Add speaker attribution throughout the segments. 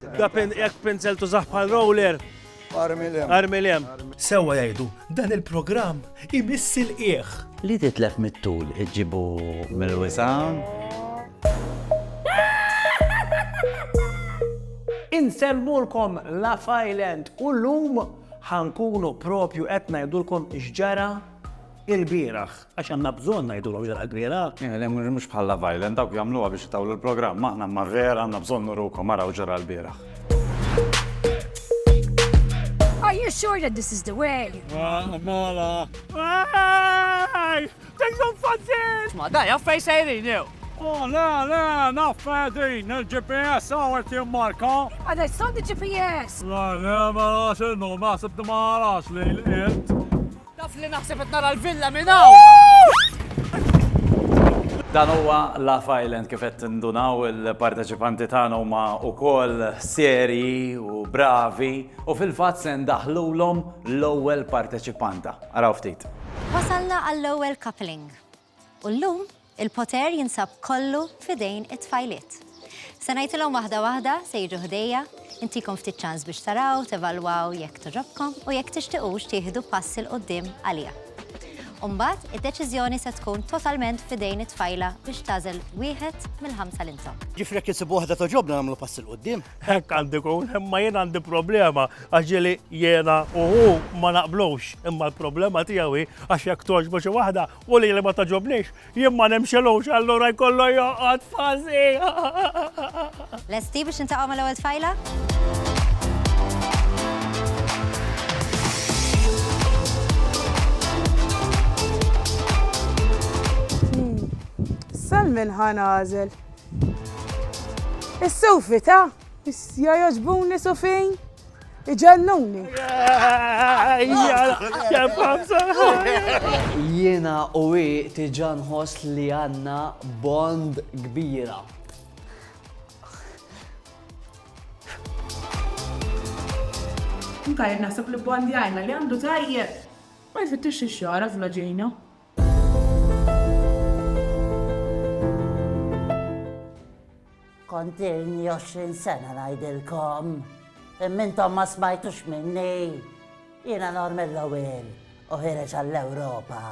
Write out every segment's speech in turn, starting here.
Speaker 1: Da pen hekk pinzel tużah bħal roller. Armilem. Armilem. Sewwa
Speaker 2: jgħidu, dan il-programm imiss il-qieħ. Li titlef
Speaker 3: mit-tul iġġibu mill-wisam.
Speaker 4: Insemmulkom La Island u l-lum ħankunu propju qed ngħidulkom x'ġara il-bieraħ. Għax għandna bżonn ngħidulhom li l-ħajt vera. Le, mhux bħal Love
Speaker 3: Island, dawk jagħmluha biex itawlu l-programm, aħna imma vera għandna bżonn nurukom ara u ġara l-bieraħ.
Speaker 5: Are you sure that this is the way? Mela.
Speaker 1: Ej! Tinkom fazzil! Ma daj, għaffej
Speaker 4: sejrin jew. Oh, le, le,
Speaker 1: naffej din, il-GPS għawet jimmarka. Ma daj, son di
Speaker 5: GPS! Le, le, ma
Speaker 1: għax il-num, għasib di ma għarax li l-int. Taf li naħseb
Speaker 4: qed nara l-villa minn hawn!
Speaker 3: Dan huwa Love Island kif qed tindunaw il-parteċipanti tagħna huma wkoll serji u bravi u fil-fatt se ndaħħlulhom l-ewwel parteċipanta. Araw ftit. Wasalna
Speaker 6: għall-ewwel coupling. U llum, il-poter jinsab kollu f'idejn it-tfajliet. Se ngħidilhom waħda waħda se jiġu ħdejja, intikom ftit ċans biex taraw, tevalwaw jekk togħġobkom u jekk tixtiqux tieħdu pass 'il quddiem għaliha. U mbagħad, id-deċiżjoni se tkun totalment f'idejn it-tfajla biex tagħżel wieħed mill-ħamsa li nsabu. Ġifieri jekk insibu waħda
Speaker 7: togħġobna nagħmlu pass 'il quddiem. Hekk għandi kun,
Speaker 1: imma jien għandi problema għax ġili jiena u hu ma naqblux, imma l-problema tiegħu hi għax jekk toġbu xi waħda u li li ma taġobniex, jien ma nimxilux allura jkollu joqgħod fażi.
Speaker 6: Lesti biex intaqgħu mal-ewwel tfajla? Hmm.
Speaker 8: Sal minn ħanażel. Is-sufi ta' Issa jogħġbuni sufin. Iġennuni. Jiena u i tiġa nħoss li għanna bond kbira.
Speaker 4: Tajjeb naħseb li bond jgħajna li għandu tajjeb. Ma
Speaker 8: jfittix ix-xara fl-ġejna.
Speaker 9: Kontilni 20 sena ngħidilkom. Imma intom ma smajtux minni. Jiena nor mill-ewwel u ħireġ għall-Ewropa.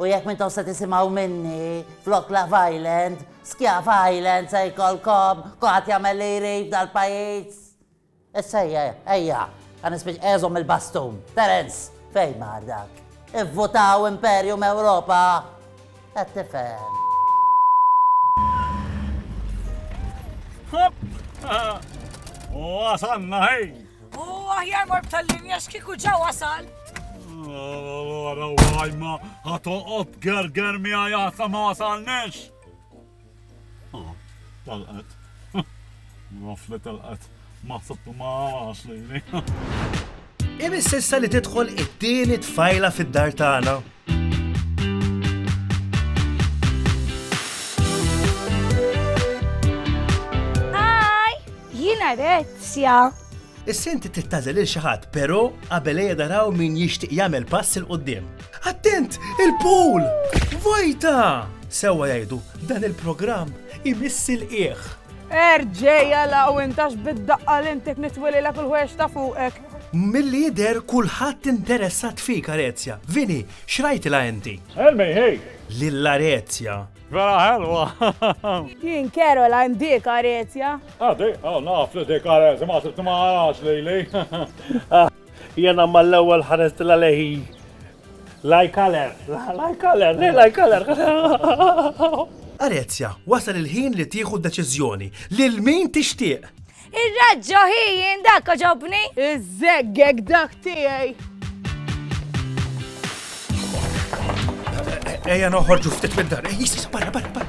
Speaker 9: U jekk mintom se tisimgħu minni, flok Love Island, Skjaf Island se jkollkom, kulħadd jagħmel li jrid dal-pajjiż. Issa ejja, ejja, ħa nispiċ ejja żomm il-bastun. Terence, fejn mar dak? Ivvutaw Imperium Ewropa! Qed tifhem.
Speaker 1: Wasanna ħej! U aħjar
Speaker 5: mor b'tal-linja x'kieku ġa wasal.
Speaker 1: Għara għajma, ħatoqot gerger mi għajata ma wasalnex. Ah, tal-qed. Rafle tal-qed. Ma sabt ma għax lejni.
Speaker 2: Imis sissa li tidħol it-tieni tfajla fid-dar tagħna.
Speaker 5: Hi! Jiena Rezzja. Issa inti
Speaker 2: trid tagħżel lil xi ħadd, però qabel ejja naraw min jixtieq jagħmel pass 'il quddiem. Attent! Il-pool! Vojta! Sewwa jgħidu, dan il-programm imiss il-qiegħ. Erġej
Speaker 8: għalaw intax bid-daqqa l-intek nitwililek il-ħwex ta' fuqek. Milli jidher
Speaker 2: kulħadd interessat fik Arezja. Vini, x'rajtilha inti? Elmej, hej!
Speaker 1: Lil Arezja.
Speaker 2: Vera ħelwa!
Speaker 1: Jien
Speaker 8: Caroline dik Arezja. Ah, dik, oh, naf
Speaker 1: li dik Arezja, ma sibt ma għarax li li. Jena ma l-ewel ħares dila leħi. Like color, like color, like color.
Speaker 2: Arezja, wasal il-ħin li tieħu deċiżjoni lil min tixtieq. Ir-raġġo
Speaker 5: ħijin dak oġobni! Iż-żeggeg
Speaker 8: dak tiegħi!
Speaker 2: Ejja noħorġu ftit mid-dar. Issa, barra, barra, barra.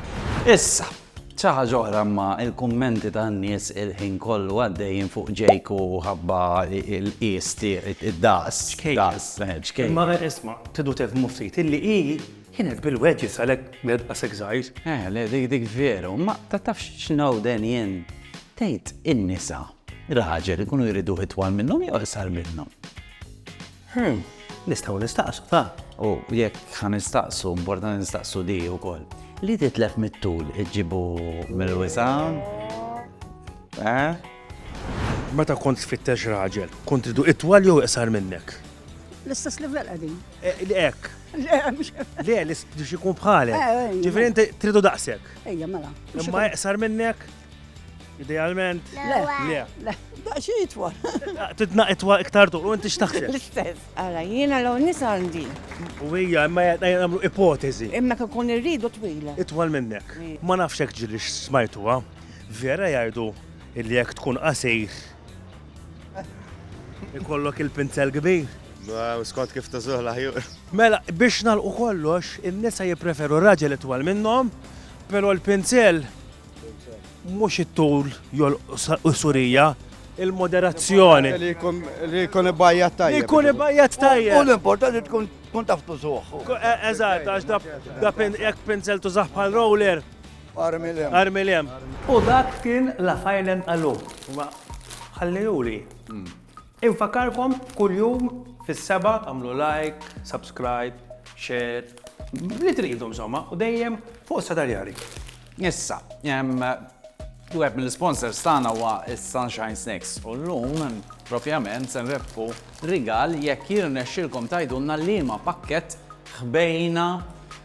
Speaker 2: Issa,
Speaker 3: ċaħġa oħra ma il-kummenti ta' nies il-ħin kollu għaddejjin fuq ġejku ħabba il-qies id-daqs. Daqs, ċkejk. Ma isma,
Speaker 4: tidu tifmu ftit illi hi Kienet bil-wedges għalhekk kienet daqshekk żgħir. Eh, le dik dik
Speaker 3: veru, imma ta' tafx x'nawden jien. Tgħid in-nisa, raġel ikunu jriduh itwal minnhom jew iqsar minnhom? Hm,
Speaker 4: nistgħu nistaqsu ta'. U jekk
Speaker 3: ħa nistaqsu, importanti nistaqsu di wkoll. Li titlef mit-tul iġġibu mill-wisa'? Eh?
Speaker 2: Meta kont tfittex raġel, kont tridu itwal jew iqsar minnek? L-istess
Speaker 8: livell qegħdin. Ek.
Speaker 2: Le, li xikun bħalek. Eh, eh, Ġifiri, inti tridu
Speaker 8: daqsek.
Speaker 2: Ejja, mela. Imma
Speaker 8: eqsar minnek,
Speaker 2: idealment. Le, le. Daqxie
Speaker 8: itwal. Tidna itwal
Speaker 2: iktar tuq, u inti xtaħseb. L-istess. Għara,
Speaker 8: jiena l nis għandi. U hija, imma
Speaker 2: jgħamlu ipotezi. Imma kakun irridu
Speaker 8: twila. Itwal minnek.
Speaker 2: Ma nafxek ġiri xsmajtuwa. Vera jgħidu illi jek tkun qasir Ikollok il-pinzel kbir. Skont kif
Speaker 10: tużuh l-aħjur. Mela, biex
Speaker 2: nalqu kollox, in-nisa jippreferu raġel itwal minnhom, però l-pinzel mhux it-tul jolqu surija il-moderazzjoni.
Speaker 10: Li jkun ibajjat tajjeb. Li jkun ibajjat tajjeb.
Speaker 2: U l-importanti tkun
Speaker 7: tkun taf tużuħ. E- eżatt, għax
Speaker 2: da jekk pinzel tużaħ bħal roller, Armilem.
Speaker 7: Armilem.
Speaker 2: U dak
Speaker 4: kien La Failen Alu. Imma ħallejuli. Infakarkom kuljum fis-sebgħa tagħmlu like, subscribe, share, li tridu insomma u dejjem fuq is-Setaljari. Issa,
Speaker 3: wieħed mill-isponsors tagħna huwa s-Sunshine Snacks u llum propjament se nrebbħu rigal jekk jirnexxilkom tgħidulna liema pakkett ħbejna